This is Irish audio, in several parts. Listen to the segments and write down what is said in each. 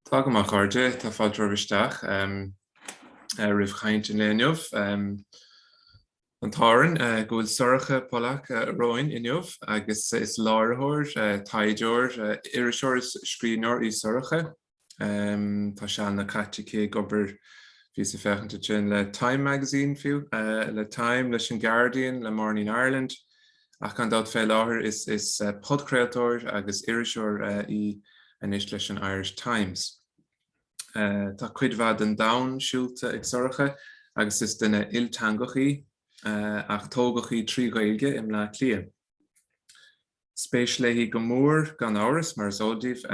Tá go maith a chairde, tá fáilte romhaibh isteach roimh chaint an lae inniu. An t-ádh orainn go bhfuil Sorcha Pollak romhainn inniu agus is láithreoir, taighdeoir, iriseoir is scríbhneoir í Sorcha. Tá sealanna caite aici ag obair, bhíos ag féachaint ansin, le Time Magazine fiú, le Time, leis an Guardian, le Morning Ireland. Ach gan dabht fé láthair is podchraoltóir agus iriseoir í anois leis an Irish Times. Tá cuid mhaith den domhan siúlta ag Sorcha agus is duine ilteangach í ach tógadh í trí Ghaeilge i mBleá Cliath. spéis léi go mór, gan amhras, mar is eol daoibh,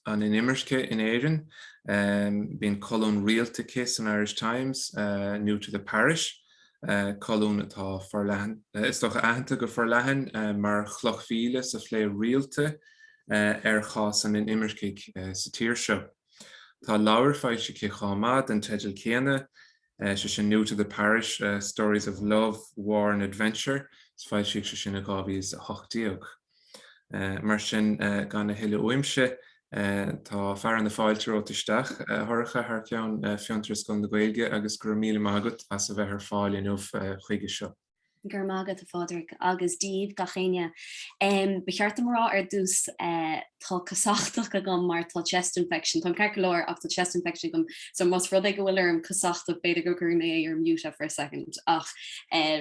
an inimirce in Éirinn. Bíonn colún rialta aici san Irish Times, New to the Parish, colún atá forleathan, is dócha, aitheanta go forleathan mar chloch mhíle sa phlé rialta ar chás an inimircigh sa tír seo. Tá leabhar foilsithe aici chomh maith den teideal céanna, sé sin New to the Parish, Stories of Love, War and Adventure agus foilsíodh sé sin in 2018. Mar sin, gan a thuilleadh uaimse, tá fearadh na fáilte romhat isteach, a Shorcha, thar ceann Fiontar is Scoil na Gaeilge agus go raibh míle maith agat as a bheith ar fáil inniu chuige seo. Go raibh maith agat, a Phádraig, agus daoibh gach éinne. Ba cheart dom a rá ar dtús, tá casachtach agam mar tá chest infection, táim ceart go leor ach tá chest infection agam so más rud é go bhfuil orm casachtach b'fhéidir go gcuirfidh mé é ar mute for a second ach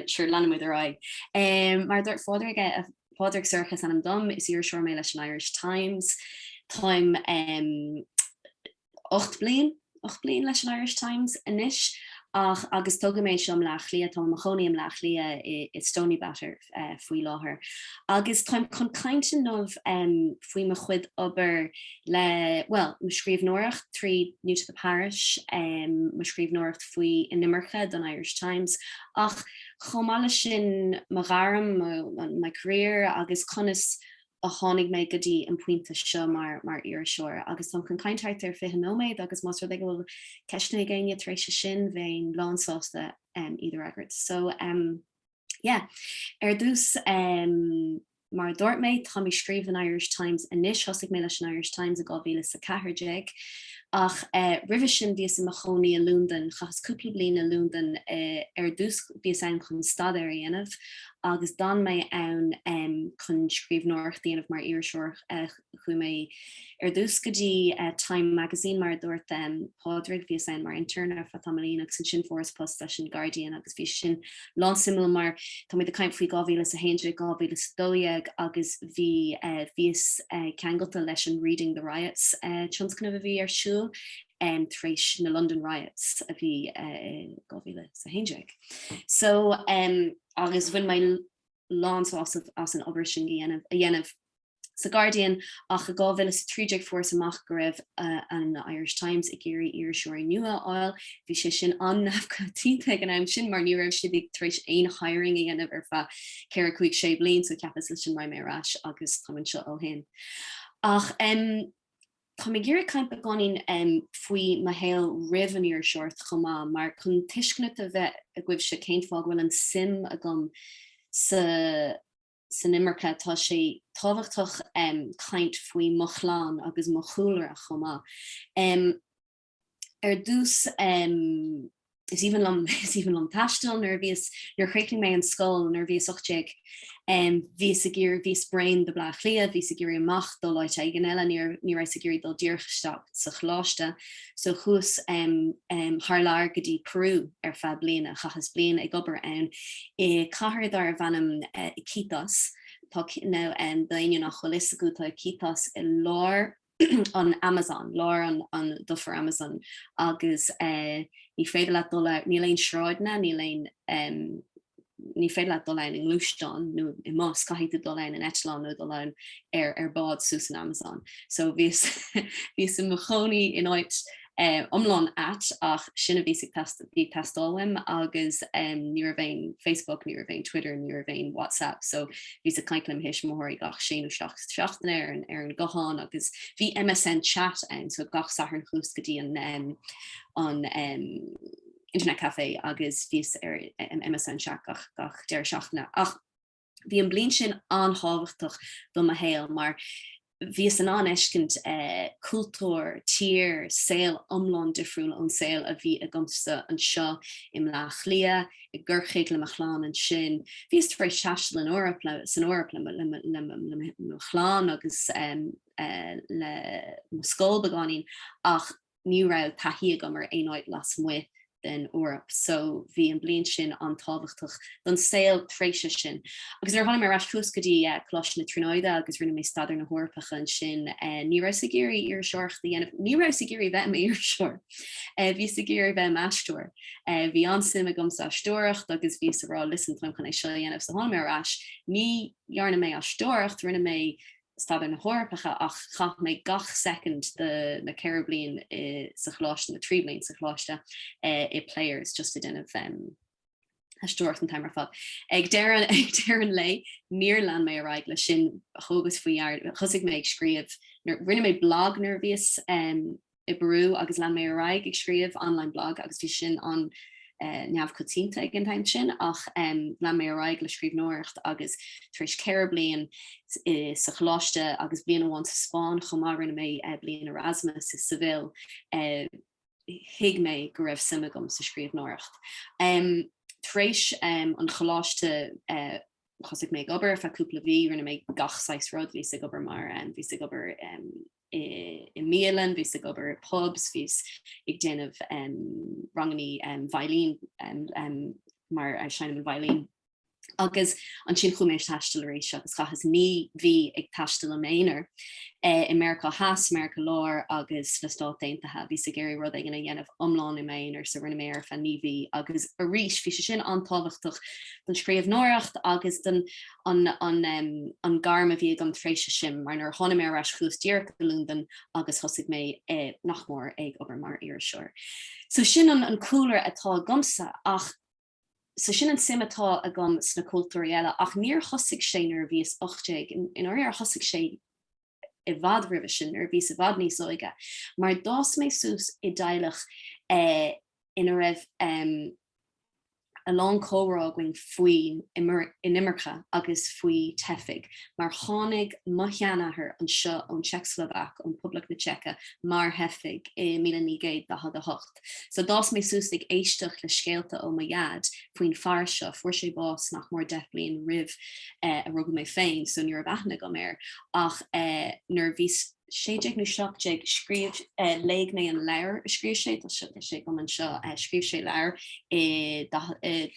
sure leanfaidh muid ar aghaidh. Mar a dúirt Phádraig, Pádraig, Sorcha is ainm dom, is iriseoir mé leis an Irish Times. Táim 8 bliain, ocht bliain leis an Irish Times anois ach agus tógadh mé anseo i mBleá Cliath, táim i mo chónaí i mBleá Cliath i i Stoneybatter faoi láthair agus táim chun caint inniu faoi mo chuid obair le, bhuel, mo scríbhneoireacht trí New to the Parish, mo scríbhneoireacht faoi inimirce don Irish Times ach chomh maith leis sin mo ghairm, my career agus conas. a tháinig mé go dtí an pointe seo mar mar iriseoir agus táim chun caint thart ar 20 nóiméad agus más rud é go bhfuil ceisteanna ag éinne tar éis sin bheinn lán sásta iad a fhreagairt. So umm yeah. Ar dtús umm mar a dúirt mé táim ag scríobh don Irish Times anois, thosaigh mé leis an Irish Times i 2014 ach eh roimhe sin bhíos i mo chónaí i Lúndain, chaitheas cúpla bliain i Lúndain eh ar dtús bhíos ann chun staidéar a dhéanamh agus d'fhan mé ann chun scríbhneoireacht a dhéanamh mar iriseoir. Chuaigh mé ar dtús go dtí Time Magazine, mar a dúirt Pádraig, bhíos ann mar intern ar feadh tamaillín agus ansin fuaireas post leis an Guardian agus bhí sé sin lánsuimiúil mar táimid ag caint faoi 2011, 2012 agus bhí bhíos ceangailte leis an Reading the Riots tionscnamh a bhí ar siúl tar éis na London Riots a bhí i 2011. So um, agus bhain mé lánsásamh as an obair sin a dhéanamh sa Guardian ach i 2013 fuaireas amach go raibh uh, an Irish Times ag iarraidh iriseoirí nua a fháil. Bhí sé sin an-neamhchoitianta ag an am sin mar ní raibh siad ag tar éis aon hiring a dhéanamh ar feadh 4-5-6 bliain so chuas leis sin, tháinig mé ar ais agus táim anseo ó shin. Ach um, Táim ag iarraidh caint beagáinín faoi mo shaol roimh an iriseoireacht chomh maith, mar chun tuiscint a bheith agaibhse cén fáth go bhfuil an suim agam san imirce tá sé tábhachtach caint faoi mo chlann agus mo chúlra chomh maith. Ar dtús, is aoibhinn liom, is aoibhinn liom taisteal. Nuair a bhíos, nuair a chríochnaigh mé an scoil, nuair a bhíos 18, bhíos ag iarraidh, bhíos bréan de Bleá Cliath, bhíos ag iarraidh amach dul áit éigin eile, ní raibh, ní rabhas ag iarraidh dul díreach isteach sa choláiste. So chuas thar lear go dtí Peru ar feadh bliana, chaitheas bliain ag obair ann i cathair darbh ainm Iquitos, tá, nó d'éinne nach bhfuil 'fhios acu, tá Iquitos i lár an Amazon, lár an an dufair Amazon agus eh ní féidir leat dul ann, níl aon sráideanna, níl aon em ní féidir leat dul ann i ngluaisteán nó i mbus, caithfidh tú dul ann in eitleán nó dul ann ar ar bád suas an Amazon. So bhíos bhíos i mo chónaí in áit iomlán ait ach sin a bhíos ag teastáil, bhí ag teastáil uaim agus ní raibh aon Facebook, ní raibh aon Twitter, ní raibh aon WhatsApp so bhíos ag caint le mo thuismitheoirí gach sé nó seacht seachtaine ar an ar an guthán agus bhí MSN Chat ann so gach Satharn chuas go dtí an an internet café agus bhíos ar MSN Chat gach gach deireadh seachtaine ach bhí an bliain sin an-tábhachtach do mo shaol mar bhíos in ann fheiscint cultúr, tír, saol iomlán difriúil ón saol a bhí agamsa anseo i mBleá Cliath, i gCorcaigh le mo chlann ansin. Bhíos tar éis taisteal san Eoraip le mo chlann agus le mo scoil beagáinín ach, ní raibh taithí agam ar aon áit lasmuigh den Eoraip so bhí an bliain sin an-tábhachtach don saol tréimhse sin. Agus nuair a tháinig mé ar ais chuas go dtí Coláiste na Tríonóide agus rinne mé Staidéir na hEorpacha ansin ní rabhas ag iarraidh iriseoireacht a dhéanamh, ní rabhas ag iarraidh bheith i m'iriseoir, bhíos ag iarraidh bheith i m'aisteoir. Bhí an-suim agam sa aisteoireacht agus bhíos ag rá 'listen táim chun é seo a dhéanamh' so tháinig mé ar ais, ní dhearna mé aisteoireacht, rinne mé Staidéir na hEorpacha ach chaith mé gach soicind de na ceithre bliain sa choláiste, na trí bliain sa choláiste, i Players just ag déanamh aisteoireacht an t-am ar fad. Ag deireadh an lae níor lean mé ar aghaidh leis sin, thógas faoi dhear, thosaigh mé ag scríobh, rinne mé blag nuair a bhíos i bPeiriú agus lean mé ar aghaidh ag scríobh online blog agus bhí sin an-neamhchoitianta ag an am sin ach lean mé ar aghaidh le scríbhneoireacht agus tar éis ceithre bliain sa choláiste agus bliain amháin sa Spáinn chomh maith rinne mé bliain Erasmus i Seville thuig mé go raibh suim agam sa scríbhneoireacht. Tar éis an choláiste thosaigh mé ag obair ar feadh cúpla mhí, rinne mé gach saghas rud, bhíos ag obair mar bhíos ag obair i mbialann, bhíos ag obair i pubs, bhíos ag déanamh rangannaí veidhlín mar seinnim an veidhlín. Agus ansin chuaigh mé ar taisteal arís agus chaitheas naoi mhí ag taisteal im aonair i Meiriceá Theas, Meiriceá Láir agus sna Stáit Aontaithe. Bhíos ag iarraidh rud éigin a dhéanamh iomlán im aonair, so rinne mé é ar feadh naoi mhí. Agus arís, bhí sé sin an-tábhachtach don scríbhneoireacht agus don an an an gairm a bhí agam tar éis sin mar nuair a tháinig mé ar ais chuas díreach go Londain agus thosaigh mé i nach mór ag obair mar iriseoir. So sin an an cúlra atá agamsa ach so sin an suim atá agam sna cultúir eile ach níor thosaigh sé nuair a bhíos 18 i ndáiríre thosaigh sé i bhfad roimhe sin nuair a bhíos i bhfad níos óige, mar d'fhás mé suas i dteaghlach eh ina raibh em a lán comhrá againn faoin inimirce agus faoi theifigh mar tháinig mo sheanathair anseo ón tSeicslóvaic, ón Poblacht na Seice, mar theifigh i míle naoi gcéad daichead a hocht. Ghaeltacht. So d'fhás mé suas ag éisteacht le scéalta ó mo Dhaid faoin fear seo, fuair sé bás nach mór deich bliain roimh eh ar rugadh mé féin so ní raibh aithne agam air ach eh nuair a bhíos sé déag nó seacht déag scríobh eh léigh mé an leabhar a scríobh sé, tá sé tá sé agam anseo, eh scríobh sé leabhar i daichead eh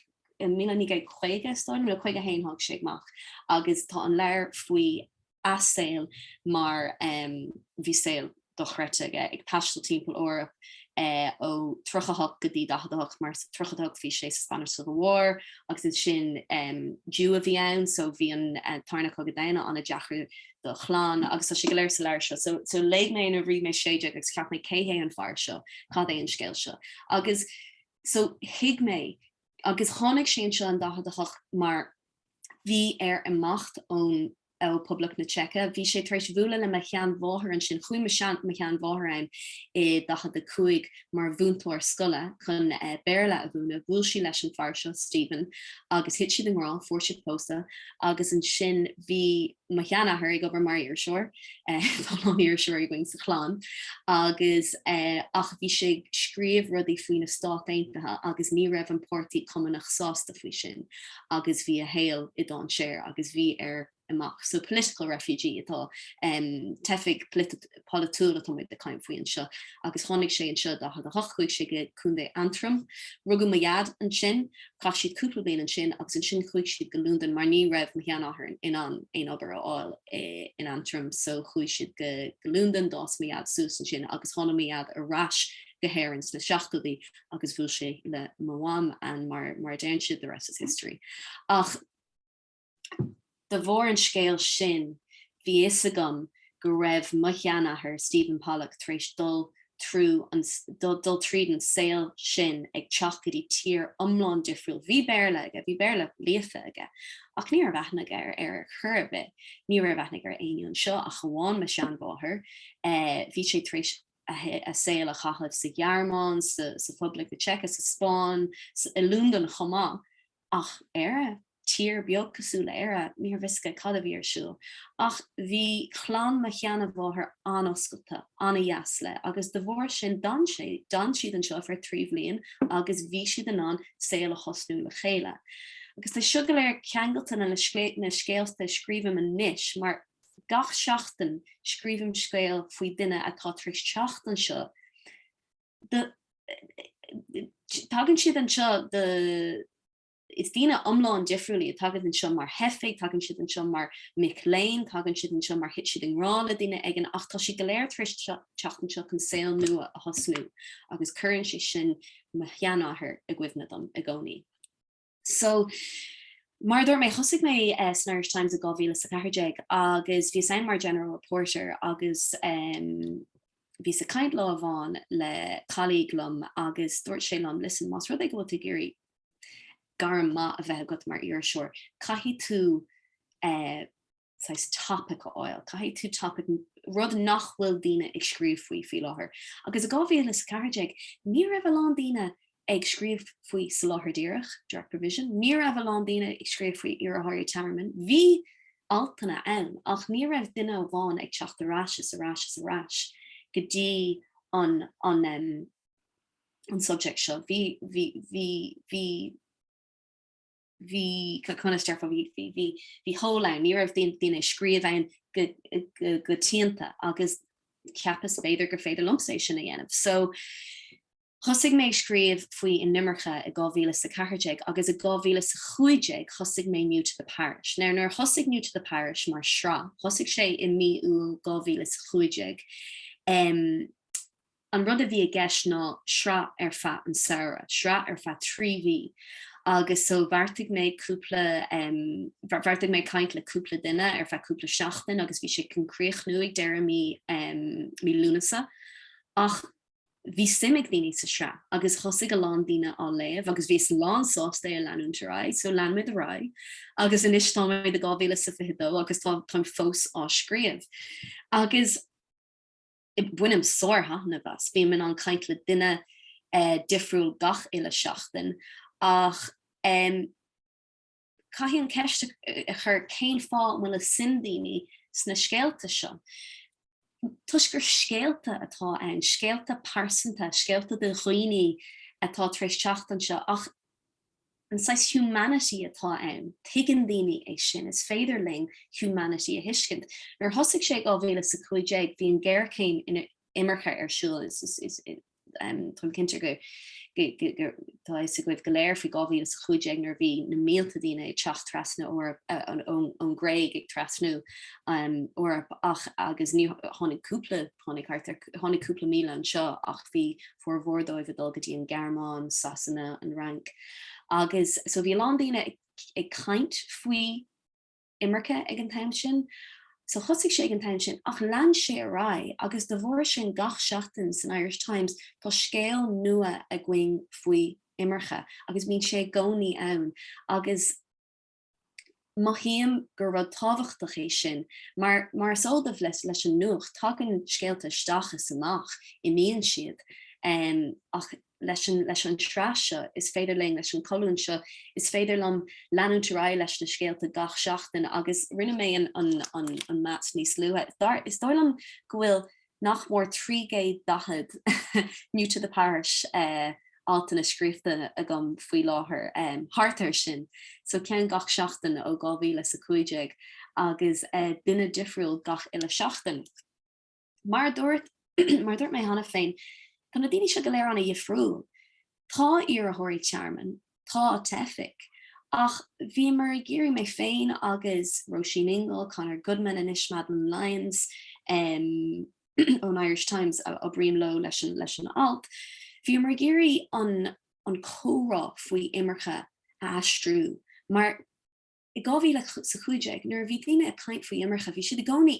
i míle naoi gcéad caoga is dóigh nó caoga a haon tháinig sé amach agus tá an leabhar faoi a shaol mar bhí saol dochreidte aige, ag taisteal timpeall Eoraip, é ó 38 go dtí 48, mar sa 38 bhí sé sa Spanish Civil War agus ansin Jew a bhí ann so bhí an tarna Cogadh Domhanda ana-dheacair dá chlann agus tá sé go léir sa leabhar seo so so léigh mé é nuair a bhí mé 16 agus cheap mé cé hé an fear seo, cad é an scéal seo agus so thuig mé agus tháinig sé anseo in 48 mar bhí air imeacht ón, ó Poblacht na Seice. Bhí sé tar éis bhualadh le mo sheanmháthair ansin. Chuaigh mo sean, mo sheanmháthair ann i daichead a cúig mar mhúinteoir scoile chun eh Béarla a mhúineadh. Bhuail sí leis an fear seo, Stephen, agus thit siad i ngrá, fuair siad pósta agus ansin bhí, Mo sheanathair ag obair mar iriseoir, tá a lán iriseoirí againn sa chlann, agus ach bhí sé ag scríobh rudaí faoi na Stát Aontaithe agus ní raibh an Páirtí Cumannach sásta faoi sin agus bhí a shaol i ndainséar agus bhí air amach. So political refugee atá, teifigh polaitiúil atá muid ag caint faoi anseo agus tháinig sé anseo i 48 chuaigh sé go Contae Antrim. Rugadh mo Dhaid ansin. Chaith siad cúpla bliain ansin agus ansin chuaigh siad go Londain mar ní raibh mo sheanathair in ann aon obair a fháil in Antrim so chuaigh siad go Londain. D'fhás mo Dhaid suas ansin agus tháinig mo Dhaid ar ais go hÉirinn sna seachtóidí agus bhuail sé le mo Mham and mar mar a deireann siad the rest is history. Ach. De bharr an scéil sin bhí fhios agam go raibh mo sheanathair, Stephen Pollak, tar éis dul trú an, dul tríd an saol sin ag teacht go dtí tír iomlán difriúil. Bhí Béarla aige, bhí Béarla líofa aige, ach ní raibh aithne aige ar ar chor ar bith, ní raibh aithne aige ar éinne anseo ach amháin mo sheanmháthair. Bhí sé tar éis a saol a chaitheamh sa Ghearmáin, sa, sa Phoblacht na Seice, sa Spáinn, sa, i Londain chomh maith. Ach Éire? Tír beag cosúil le Éire, ní raibh a fhios aige cad a bhí ar siúl. Ach bhí clann mo sheanmháthar an-oscailte, an-deas leis agus de bharr sin d'fhan sé, d'fhan siad anseo ar feadh trí bliain agus bhí siad in ann saol a thosnú le chéile. Agus tá seo go léir ceangailte le na scéalta a scríobhaim anois mar gach seachtain scríobhaim scéal faoi duine atá tar éis teacht anseo, Tagann siad anseo do is daoine iomlán difriúil iad, tagann anseo mar theifigh, tagann siad anseo mar mic léinn, tagann siad anseo mar thit siad i ngrá le duine éigin ach tá siad go léir tar éis teacht anseo chun saol nua a thosnú agus cuireann sé sin mo sheanathair i gcuimhne dom i gcónaí. So, mar a dúirt mé, thosaigh mé san Irish Times i 2014 agus bhíos ann mar general reporter agus bhíos ag caint lá amháin le colleague liom agus dúirt sé liom, listen, más rud é go bhfuil tú ag iarraidh gairm maith a bheith agat mar iriseoir, caithfidh tú saghas topic a fháil. Caithfidh tú topic rud nach bhfuil daoine ag scríobh faoi faoi láthair. Agus i 2014 ní raibh a lán daoine ag scríobh faoi soláthar díreach, direct provision, ní raibh a lán daoine ag scríobh faoi iarrthóirí tearmainn. Bhí altanna ann ach ní raibh duine amháin ag teacht ar ais is ar ais is ar ais go dtí an an um an subject seo. Bhí bhí bhí bhí. bhí conas deirfeá, bhí hole ann, ní raibh daoine ag scríobh ann go teannta agus cheapas b'fhéidir gur féidir liomsa é sin a dhéanamh. So thosaigh mé ag scríobh faoi inimirce i 2014 agus i 2015 thosaigh mé New to the Parish. Now nuair a thosaigh New to the Parish mar shraith, thosaigh sé i mí Iúil 2015, An rud a bhí i gceist ná sraith ar feadh an samhradh, sraith ar feadh trí mhí agus so bheartaigh mé cúpla em, bheartaigh mé caint le cúpla duine ar feadh cúpla seachtain agus bhí sé chun críochnú ag deireadh mí em, mí Lúnasa ach bhí suim ag daoine sa sraith agus thosaigh a lán daoine á léamh agus bhíos lánsásta é a leanúint ar aghaidh so lean muid ar aghaidh agus anois táimid i 2022 agus tá táim fós á scríobh agus Bainim sárthaitneamh as, bím in ann caint le duine difriúil gach uile seachtain ach caithfidh an ceist a chur cén fáth a bhfuil suim ag daoine sna scéalta seo. Toisc gur scéalta atá ann, scéalta pearsanta, scéalta de dhaoine atá tar éis teacht anseo ach, an saghas humanity atá ann. Tuigeann daoine é sin. Is féidir linn humanity a thuiscint. Nuair a thosaigh sé i dhá mhíle is a cúig déag bhí an ghéarchéim inimirce ar siúl is táim cinnte go tá a fhios agaibh go léir faoi dhá mhíle is a cúig déag nuair a bhí na mílte daoine ag teacht trasna ón nGréig ag trasnú an Eoraip ach agus ní tháinig cúpla tháinig thart tháinig cúpla míle anseo ach bhí formhór dóibh ag dul go dtí an Ghearmáin, Sasana, an Fhrainc agus so bhí a lán daoine ag ag caint faoi imirce ag an am sin. So thosaigh sé ag an am sin ach lean sé ar aghaidh agus de bharr sin gach seachtain san Irish Times tá scéal nua againn faoi imirce agus bíonn sé i gcónaí ann agus Mothaím gur rud tábhachtach é sin mar, mar is eol daoibh leis an nuacht, tagann scéalta isteach is amach, imíonn siad, ach leis an tsraith seo, is féidir linn, leis an cholún seo, is féidir liom leanúint ar aghaidh leis na scéalta gach seachtain agus rinne mé an maths níos luaithe. Is dóigh liom go bhfuil. nach mór 340 New to the Parish altanna scríofa agam faoi láthair, thart air sin, so ceann gach seachtain ó 2015 agus duine difriúil gach uile sheachtain. Mar a dúirt mar a dúirt mé cheana féin, tá na daoine seo go léir an-dhifriúil. Tá iarrthóirí tearmainn Tá teifigh. Ach bhíomar ag iarraidh, mé féin agus Róisín Ingle, Conor Goodman anois, Madeline Lyons ón Irish Times a oibríonn liom leis an alt, bhíomar ag iarraidh an comhrá faoi imirce a aistriú mar i 2015 nuair a bhí daoine ag caint faoi imirce bhí siad i gcónaí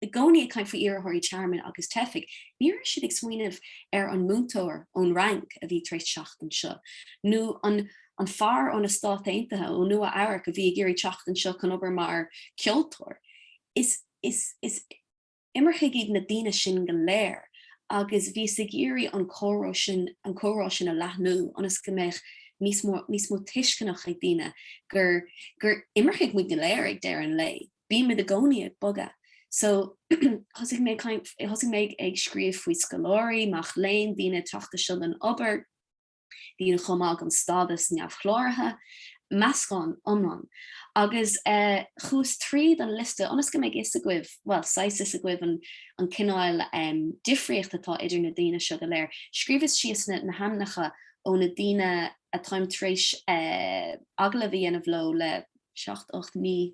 i gcónaí ag caint faoi iarrthóirí tearmainn agus teifigh, ní raibh siad ag smaoineamh ar an múinteoir ón Fhrainc a bhí tar éis teacht anseo, nó an an fear ó na Stáit Aontaithe, ó Nua Eabhrac a bhí ag iarraidh teacht anseo chun obair mar cheoltóir. Is is is imircigh iad na daoine sin go léir agus bhíos ag iarraidh an comhrá sin an comhrá sin a leathnú ionas go mbeadh níos mó níos mó tuisceana ag daoine gur gur imircigh muid go léir ag deireadh an lae. Bímid i gcónaí ag bogadh. So, thosaigh mé kind of, thosaigh mé ag scríobh faoi scoláirí, mac léinn, daoine ag teacht anseo don obair, daoine chomh maith gan stádas neamhchláraithe, meascán iomlán. Agus eh chuas tríd an liosta ionas go mbeidh a fhios agaibh, bhuel, saghas fhios agaibh an an cineál em difríocht atá idir na daoine seo go léir. Scríobhas síos na na hainmneacha ó na daoine atáim tar éis eh agallamh a dhéanamh leo le seacht, ocht mí.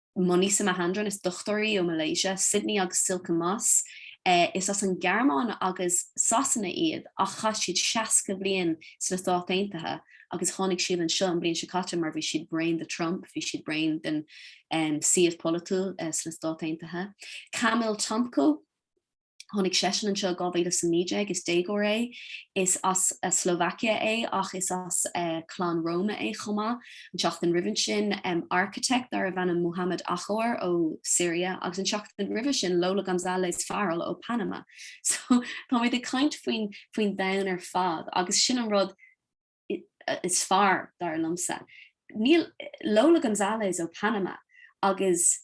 Manisha Mahendran, is dochtúir í ó Malaysia, Sydney agus Silke Moss, is as an Ghearmáin agus Sasana iad ach chaith siad 60 bliain sna Stáit Aontaithe agus tháinig siad anseo an bhliain seo caite mar bhí siad bréan de Trump, bhí siad bréan den suíomh polaitiúil sna Stáit Aontaithe. Kamil Tomko. Tháinig seisean anseo in 2019, is déagóir é. Is as Slovakia é ach is as clann Roma é chomh maith. An tseachtain roimhe sin, architect darbh ainm Muhammad Achour ó Syria agus an seachtain roimhe sin Lola Gonzalez Farrell ó Panama. So táimid ag caint faoi faoin domhan ar fad agus sin an rud is fearr, dar liomsa. Mar Lola Gonzalez ó Panama agus.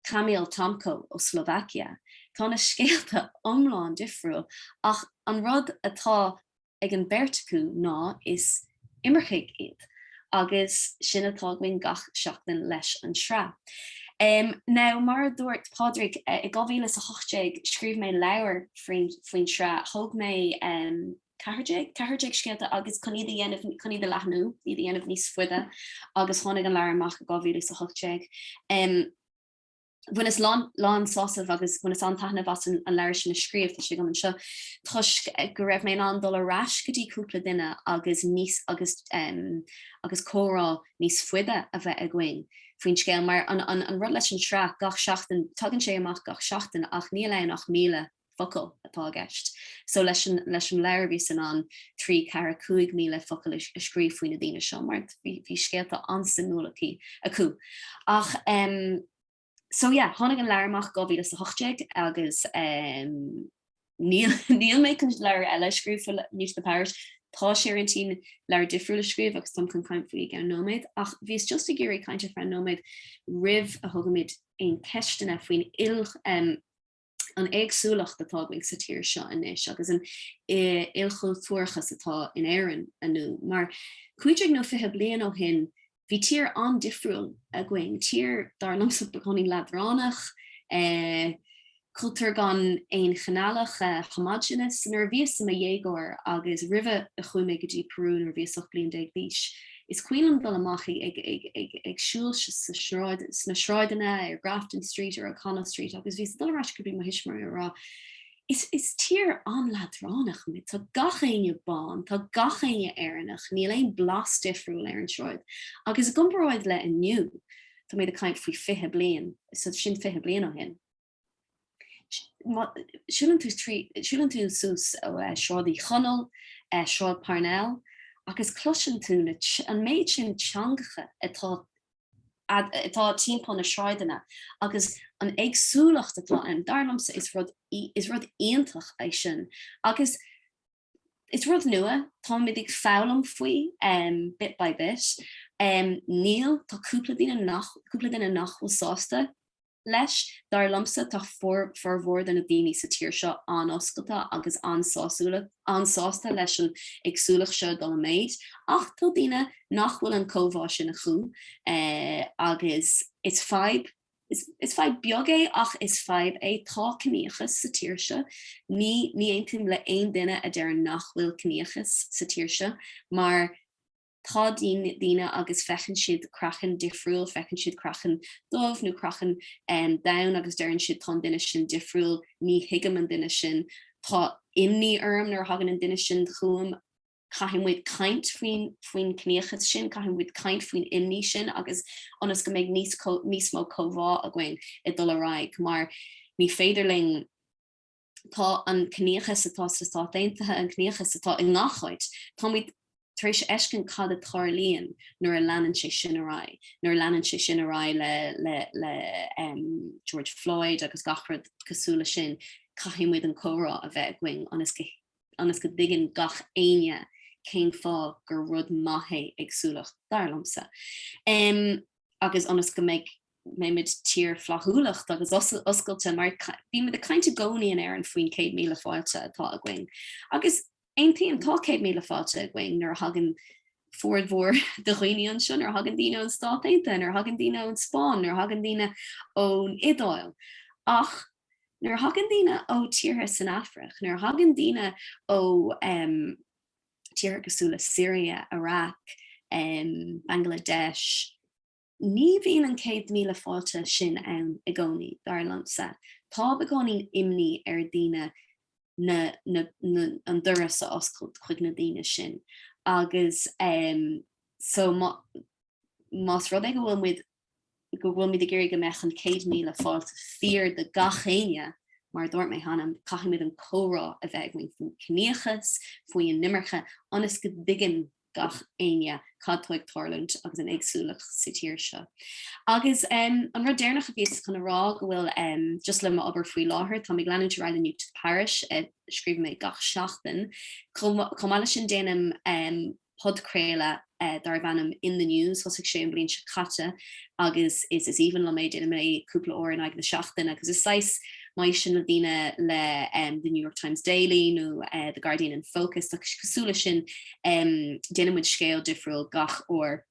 Kamil Tomko ó Slovakia, tá na scéalta iomlán difriúil ach an rud atá ag an beirt acu ná is imircigh iad agus sin atá againn gach seachtain leis an sraith. Now mar a dúirt Pádraig, i 2018 scríobh mé leabhar faoin sraith, thóg mé. 14, 14 scéalta agus chun iad a dhéanamh, chun iad a leathnú, iad a dhéanamh níos faide agus tháinig an leabhar amach i 2018. Bhaineas lán, lán sásamh agus bhaineas an-taitneamh as an leabhar sin a scríobh, tá sé agam anseo, toisc go raibh mé in ann dul ar ais go dtí cúpla duine agus níos, agus, agus comhrá níos faide a bheith againn faoin scéal mar an, an, an rud leis an sraith gach seachtain, tagann sé amach gach seachtain ach níl ann ach míle, focal atá i gceist. So leis an leis an leabhar bhíos in ann trí, ceathair, cúig míle focal a a scríobh faoi na daoine seo mar bhí bhí scéalta an-suimiúil acu. Ach em so yeah tháinig an leabhar amach 2018 agus em níl níl mé chun leabhar eile a scríobh faoi New to the Parish. Tá sé ar intinn agam leabhar difriúil a scríobh agus táim chun caint faoi i gceann nóiméad ach bhíos just ag iarraidh caint ar feadh nóiméad roimh a thugaimid aon cheisteanna faoin il em an éagsúlacht atá againn sa tír seo anois agus an ilchultúrachas atá in Éirinn inniu. Mar cúig déag nó fiche bliain ó shin, bhí tír an-difriúil againn, tír dar liomsa beagáinín leadránach, eh cultúr gan aon chineálach eh homogenous. Nuair a bhíos i mo dhéagóir agus roimhe a chuaigh mé go dtí Peru nuair a bhíos 18 bliain d'aois, Is cuimhin liom dul amach ag siúl sna sráideanna ar Grafton Street, ar O'Connell Street agus bhíos ag dul ar ais go dtí mo thuismitheoirí ag rá 'Is tír an-leadránach muid, tá gach éinne bán, tá gach éinne Éireannach, níl aon blas difriúil ar an sráid' agus i gcomparáid le inniu, tá mé ag caint faoi 20 bliain, sin 20 bliain ó shin. Siúlann tú suas Sráid Uí Chonaill, Sráid Parnell agus cloiseann tú an méid sin teangacha atá timpeall na sráideanna agus an éagsúlacht atá ann, dar liomsa is rud iontach é sin agus Is rud nua, táimid ag foghlaim faoi, bit by bit. Níl, tá cúpla duine nach, cúpla duine nach bhfuil sásta leis. Dar liomsa, tá formhór de na daoine sa tír seo an-oscailte agus an-sásúla, an-sásta leis an éagsúlacht seo ag dul i méid. Ach tá daoine nach bhfuil an comhbhá sin acu agus is fadhb. Is fadhb beag é ach is fadhb é. Tá ciníochas sa tír seo. Ní aontaím le haon duine a deireann nach bhfuil ciníochas sa tír seo mar tá daoine agus feiceann siad craiceann difriúil, feiceann siad craiceann dubh nó craiceann donn agus deireann siad tá an duine sin difriúil, ní thuigim an duine sin, tá imní orm nuair a thagann an duine sin chugam. Caithfidh muid caint faoi faoin gciníochas sin, caithfidh muid caint faoin imní sin agus ionas go mbeidh níos mó comhbhá againn ag dul ar aghaidh mar ní féidir linn, tá an ciníochas atá sna Stáit Aontaithe, an ciníochas atá i ngach áit, tá muid tar éis fheiscint cad a tarlaíonn nuair a leanann sé sin ar aghaidh, nuair a leanann sé sin ar aghaidh le George Floyd agus gach rud cosúil leis sin, caithfidh muid an comhrá a bheith againn ionas go ionas go dtuigeann gach éinne cén fáth gur rud maith é éagsúlacht, dar liomsa, agus ionas go mbeidh, mbeimid tír flaithiúlach agus oscailte, mar bímid ag caint i gcónaí in Éirinn faoin 100,000 fáilte atá againn, agus aontaím, tá 100,000 fáilte againn nuair a thagann formhór de dhaoine anseo, nuair a thagann daoine ón Stát Aontaithe, nuair a thagann daoine ón Spáinn, nuair a thagann daoine ón Iodáil, ach Nuair a thagann daoine ó tíortha san Afraic, nuair a thagann daoine ó tíortha cosúil le Siria, Iraq, Bangladesh, ní bhíonn an 100,000 fáilte sin ann i gcónaí, dar liomsa. Tá i gcónaí imní ar dhaoine an doras a oscailt chuig na daoine sin agus más rud é go bhfuil muid go bhfuilimid ag iarraidh go mbeadh an 'céad-míle fáilte' fíor do gach éinne, mar a dúirt mé cheana, caithfimid an comhrá a bheith againn faoin ciníochas, faoin imirce, ionas go dtuigeann gach éinne cad atá ag tarlúint agus an éagsúlacht sa tír seo. Agus an rud deireanach a bhíos chun a rá go bhfuil just le m'obair faoi láthair, táim ag leanúint ar aghaidh le New to the Parish a scríobhann mé gach seachtain, chomh maith leis sin déanaim podchraoladh darbh ainm In The News, thosaigh sé an bhliain seo caite agus is is aoibhinn liom é, déanaim é cúpla uair in aghaidh na seachtaine agus is saghas má éisteann daoine le The New York Times Daily nó The Guardian in Focus, tá cosúil leis sin, déanann muid scéal difriúil gach uair.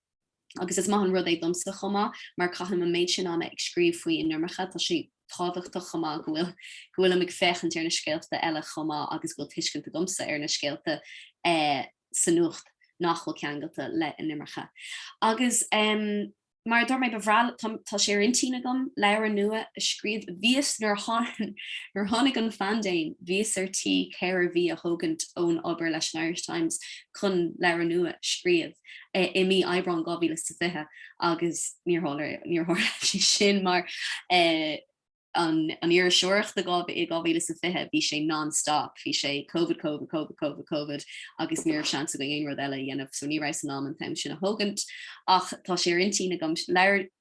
agus is maith an rud é domsa chomh maith mar caithim an méid sin ama ag scríobh faoin imirce, tá sé tábhachtach chomh maith go bhfuil go bhfuilim ag féachaint ar na scéalta eile chomh maith agus go bhfuil tuiscint agamsa ar na scéalta sa nuacht nach bhfuil ceangailte le an imirce. Agus mar a dúirt mé ba bhreá liom, tá sé ar intinn agam leabhar nua a scríobh, bhíos nuair a tháinig an phaindéim bhíos ar tí ceithre mhí a thógaint ón obair leis an Irish Times chun leabhar nua a scríobh. i mí Aibreán 2020 agus níor tharla sé sin mar an iriseoireacht i 2020 bhí sé non-stop, bhí sé Covid, Covid, Covid, Covid, Covid agus ní raibh seans againn aon rud eile a dhéanamh so ní raibh seans agam an t-am sin a thógaint ach tá sé ar intinn agam leabhar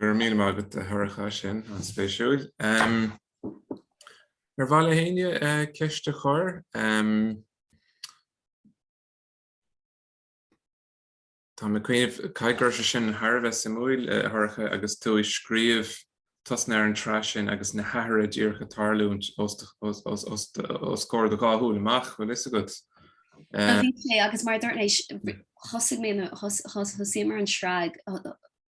Go raibh míle maith agat a Shorcha bhí sé sin an-spéisiúil. Ar mhaith le héinne ceist a chur? Tá mé ag cuimhneamh, caithfidh go raibh sé sin thar a bheith suimiúil, a Shorcha, agus tú ag scríobh tosnú ar an tsraith sin agus na hathruithe díreach ag tarlúint os comhair do dhá shúil amach, bhfuil a fhios agat? Bhí sé, agus mar a dúirt mé, thosaigh mé, thosaíomar an tsraith,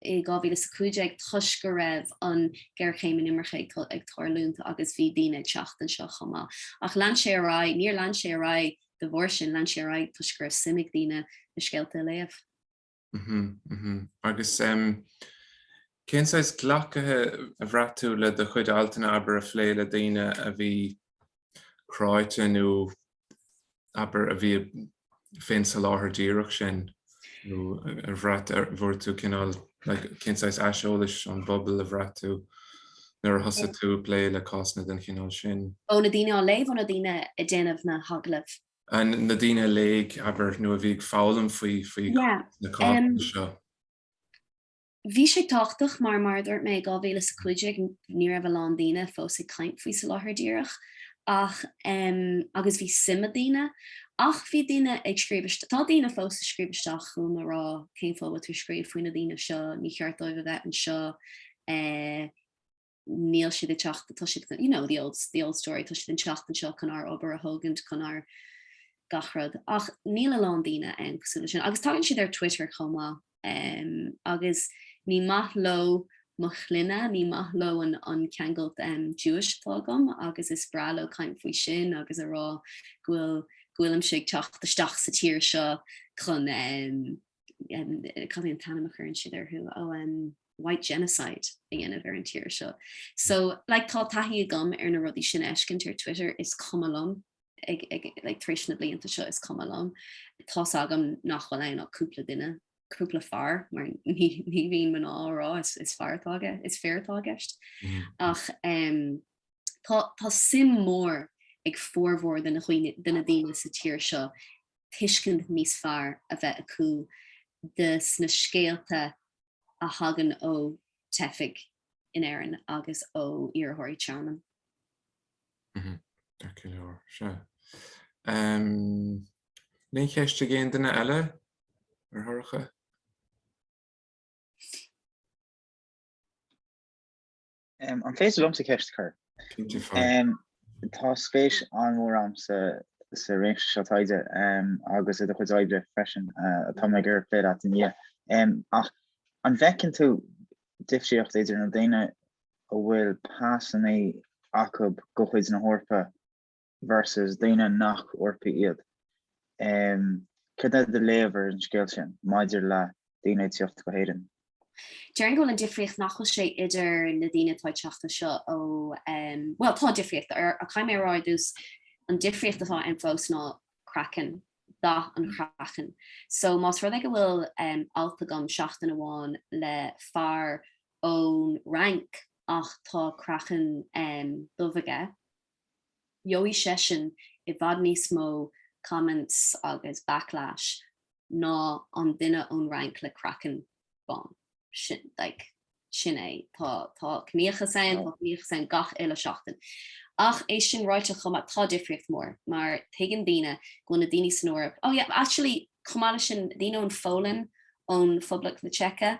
i 2015 toisc go raibh an géarchéim inimirce ag tarlúint agus bhí daoine ag teacht anseo chomh maith. Ach lean sé ar aghaidh, níor lean sé ar aghaidh de bharr sin, lean sé ar aghaidh toisc go raibh suim ag daoine na scéalta a léamh. Mhm, mhm. Agus em cén saghas glactha a bhraith tú le do chuid altanna, abair, a phléigh le daoine a bhí cráite nó abair, a bhí faoin Soláthar Díreach sin nó ar bhraith ar bhfuair tú cineál cén saghas aiseolais ón bpobal a bhraith tú nuair a thosaigh tú ag plé le cásanna den chineál sin. Ó na daoine ag léamh nó na daoine ag déanamh na hagallaimh? Ó na daoine a léigh abair nó a bhí ag foghlaim faoi faoi na cásanna seo? Bhí sé tábhachtach mar, mar a dúirt mé, i 2015 ní raibh a lán daoine fós ag caint faoi Soláthar Díreach ach em agus bhí suim ag daoine ach bhí daoine ag scríobh isteach, tá daoine fós ag scríobh isteach chugam ag rá cén fáth a bhfuil tú ag scríobh faoi na daoine seo, ní cheart dóibh a bheith anseo eh. níl siad ag teacht, tá siad, you know, the old, the old story, tá siad ag teacht anseo chun ár obair a thógaint, chun ár gach rud. Ach níl a lán daoine ann cosúil leis sin. Agus tagann siad ar Twitter chomh maith em, agus ní maith leo mo shloinne, ní maith leo an, an ceangailt em, Jewish atá agam agus is breá leo caint faoi sin agus a rá go bhfuil, go bhfuilimse ag teacht isteach sa tír seo chun em, cad é an t-ainm a chuireann siad air ó an white genocide a dhéanamh ar an tír seo. So like, tá taithí agam ar na rudaí sin a fheiscint ar Twitter is cuma liom ag, ag, like, tar éis na blianta seo is cuma liom. Tá a fhios agam nach bhfuil ann ach cúpla duine cúpla fear mar ní, ní bhíonn mná á rá is, is fir atá i gce is fir atá i gceist. Mm. Mm-hmm. Ach um, tá, tá suim mór ag formhór de na daoine sa tír seo tuiscint níos fearr a bheith acu de sna scéalta a thagann ó teifigh in Éirinn agus ó iarrthóirí tearmainn. Deacair go leor seo. Aon cheist ag aon duine eile ar Shorcha? Um, an féidir liomsa ceist a chur? Um, tá spéis an-mhór agamsa, sa réimse seo taighde um, agus i do chuid oibre freisin uh, atá muid ag plé leat inniu. Um, ach an bhfeiceann tú difríocht idir na daoine a bhfuil pasannaí acu de chuid na hEorpa versus daoine nach Eorpaigh iad. Céard é do léamh ar an scéal sin maidir le daoine ag teacht go hÉirinn? Déarfainn go bhfuil an difríocht nach bhfuil sé idir na daoine atá ag teacht anseo ó, bhuel tá difríocht, ach caithfidh mé a rá ar dtús, an difríocht atá ann fós ná craiceann, dath an chraicinn. So más rud é go bhfuil alt agam seachtain amháin le fear ón Fhrainc ach tá craiceann dubh aige, gheobhaidh seisean i bhfad níos mó comments agus backlash ná an duine ón Fhrainc le craiceann bán. Sin, like, sin é. Tá, tá ciníochas ann, tá ciníochas ann gach uile seachtain. Ach é sin ráite chomh maith, tá difríocht mhór mar tuigeann daoine go bhfuil na daoine san Eoraip, oh yeah, actually, chomh maith leis sin, daoine ón Pholainn, ó Phoblacht na Seice,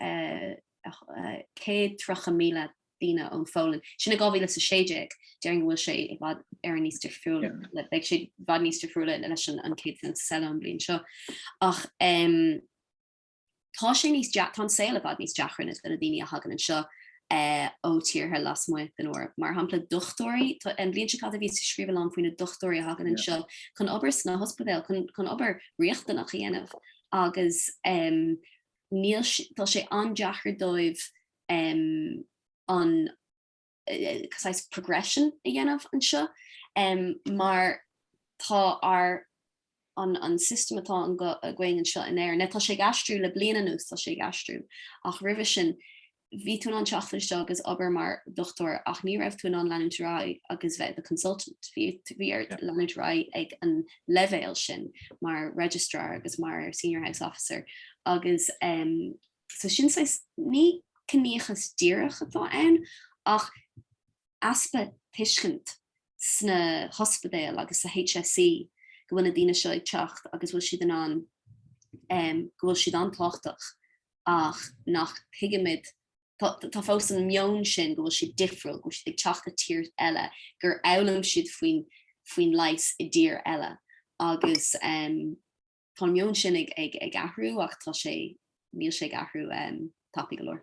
130,000 duine ón Pholainn, sin i 2016, déarfainn go bhfuil sé i bhfad ar an níos difriúla, beidh sé i bhfad níos difriúla leis an census, bhuel ón mbliain seo. Ach tá sé níos tá an saol i bhfad níos deacra do daoine a thagann anseo ó thíortha lasmuigh den Eoraip. Mar shampla, dochtúirí, tá, an bhliain seo caite bhíos ag scríobh a lán faoi na dochtúirí a thagann anseo chun obair sna hospidéil, chun, chun obair riachtanach a dhéanamh. Agus níl, tá sé an-deacair dóibh an saghas progression a dhéanamh anseo mar tá ar an system atá againn anseo in Éirinn, tá sé ag aistriú le bliain anuas, tá sé ag aistriú ach roimhe sin, Bhí tú in ann teacht anseo agus obair mar dhochtúir ach ní raibh tú in ann leanúint ar aghaidh agus bheith i do consultant. Bhí ort leanúint ar aghaidh ag an leibhéal sin mar Registrar agus mar Senior House Officer agus so sin saghas, ní ciníochas díreach atá ann ach easpa tuiscint sna hospidéil agus sa HSE go bhfuil na daoine seo ag teacht agus go bhfuil siad in ann, go bhfuil siad an-tábhachtach ach nach tuigimid, tá fós an meon sin go bhfuil siad difriúil, go bhfuil siad ag teacht ó thír eile, gur fhoghlaim siad faoin leigheas i dtír eile agus tá an meon sin ag athrú ach tá sé, níl sé ag athrú tapa go leor.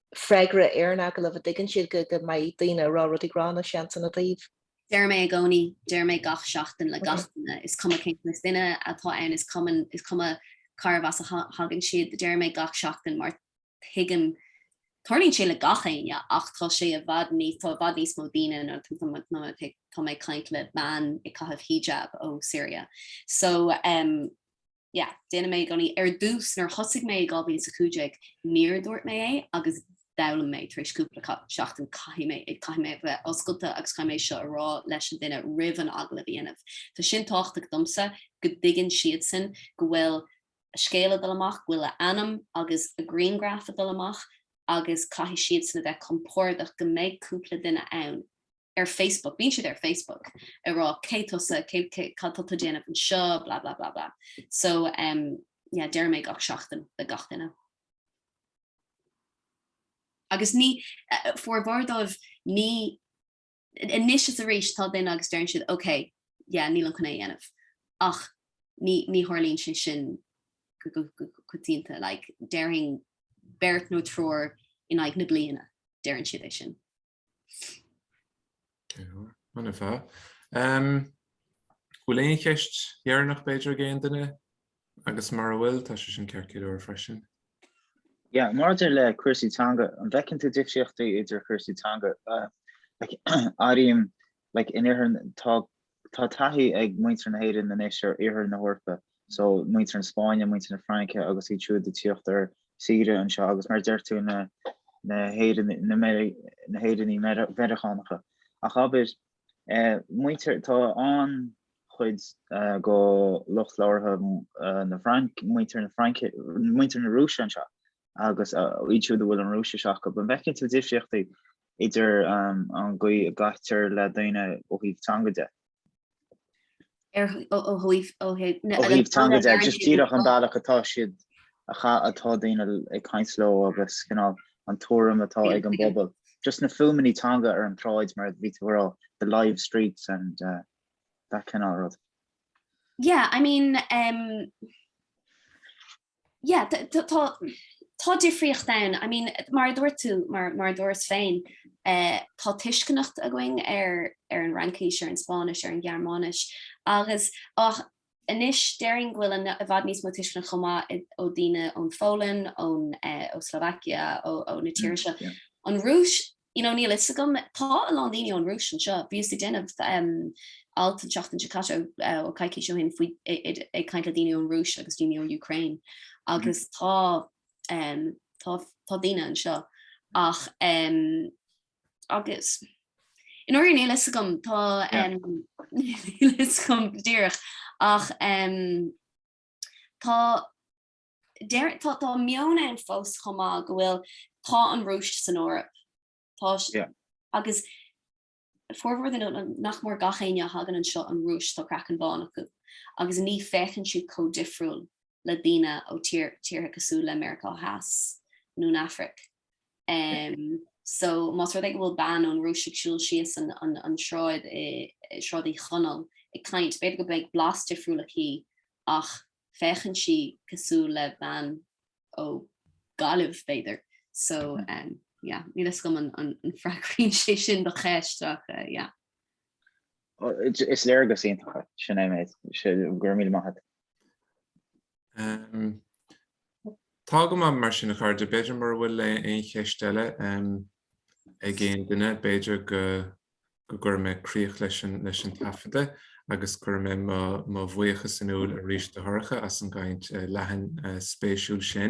freagra ar an agallamh a dtuigeann siad go go mbeidh daoine a rá rudaí gránna seans ina dtaobh. Deir mé i gcónaí, deir mé gach seachtain le gach duine, is cuma cén saghas duine atá ann, is cuma, is cuma cárbh as a thagann siad, deir mé gach seachtain mar tuigim, tarlaíonn sé le gach éinne ach tá sé i bhfad níos, tá i bhfad níos mó daoine nó tá mé ag caint le bean ag caitheamh hijab ó Syria so, em, Yeah, déanann mé i gcónaí. Ar dtús, nuair a thosaigh mé i 2015, níor dhúirt mé é agus d'fhoghlaim mé tar éis cúpla seachtain caithfidh mé, caithfidh mé a bheith oscailte agus caithfidh mé seo a rá leis an duine roimh an agallamh a dhéanamh. Tá sin tábhachtach domsa go dtuigeann siadsan go bhfuil a scéal ag dul amach, go bhfuil a ainm agus a grianghraf ag dul amach agus caithfidh siadsan a bheith compordach go mbeidh cúpla duine ann ar Facebook, bíonn siad ar Facebook ag rá cé tusa, cé, cé, cad tá tú ag déanamh anseo, blah blah blah blah. So umm yeah deirim é gach seachtain le gach duine. Agus ní, formhór díobh ní, anois is arís tá duine agus deireann siad ok yeah nílim chun é a dhéanamh ach ní, ní tharlaíonn sé sin go, go, go coitianta like déarfainn beirt nó triúr in aghaidh na bliana, deireann siad é sin. An bhfuil, bhfuil aon cheist dheireanach b'fhéidir ag aon duine? Agus mara bhfuil, tá sé sin ceart go leor freisin. Yeah, maidir le cúrsaí teanga, an bhfeiceann tú difríochtaí idir chúrsaí teanga? Like, airím, like, in Iarthair, tá Tá taithí ag muintir na hÉireann anois ar iarthar na hEorpa, so muintir na Spáinne, muintir na Fraince agus iad siúd a tíocht ar saoire anseo agus mar a deir tú na na hÉireannaigh Mheiriceánacha. Ach abair, eh, muintir tá an chuid eh, de lucht labhartha eh, na Fraince muintir na Fraince muintir na Rúise anseo. agus iad siúd a bhfuil an Rúisis acu. An bhfeiceann tú difríochtaí idir an gcaoi a gcaitear le daoine ó thaobh teanga de? Ar ó thaobh ó thaobh na. Ó thaobh teanga de, just díreach an bealach atá siad atá daoine ag caint leo agus cineál an tuairim atá ag an bpobal. Just na fuaimeannaí teanga ar an tsráid mar a bhí tú ag rá, the live streets and uh, that cineál rud. Yeah, I mean, um, Yeah, tá, tá difríocht ann. I mean, mar a dúirt tú, mar, mar a dúras féin, eh, tá tuiscint againn ar, ar an Fhraincis, ar an Spáinnis, ar an Ghearmáinis, agus, ach anois déarfainn go bhfuil an, i bhfad níos mó tuisceanach chomh maith i, ó daoine ón Pholainn, ón, eh, ó Slovakia, ó, ó na tíortha seo. An Rúis, You know, níl a fhios agam. Tá a lán daoine ón Rúis anseo. Bhíos ag déanamh alt an tseachtain seo caite nó coicís ó shin faoi, ag caint le daoine ón Rúis agus daoine ó Ukraine agus tá, tá, tá daoine anseo ach agus, you know, níl a fhios agam. Tá, níl a fhios agam go díreach ach tá, deir, tá, tá meon ann fós chomh maith go bhfuil, tá an Rúis san Eoraip. Tá, yeah. agus formhór de na, nach mór gach éinne a thagann anseo an Rúis tá craiceann bán acu agus ní féachann siad chomh difriúil le daoine ó tír, tíortha cosúil le Meiriceá Theas nó an Afraic. Um, so más rud é go bhfuil bean ón Rúis ag siúl síos an, an, an sráid, i, Sráid Uí Chonaill ag caint, b'fhéidir go beidh blas difriúil aici ach féachann sí cosúil le bean ó Gaillimh b'fhéidir so yeah níl a fhios agam an freagraíonn sé sin do cheist ach yeah. Is léargas iontach é sin, go raibh míle maith agat. Tá go maith mar sin a chairde, b'fhéidir mura bhfuil aon cheist eile ag aon duine b'fhéidir go go gcuirfidh mé críoch leis an taifeadadh agus cuirfidh mé mo bhuíochas in iúl arís do Shorcha as an gcaint leathan spéisiúil sin.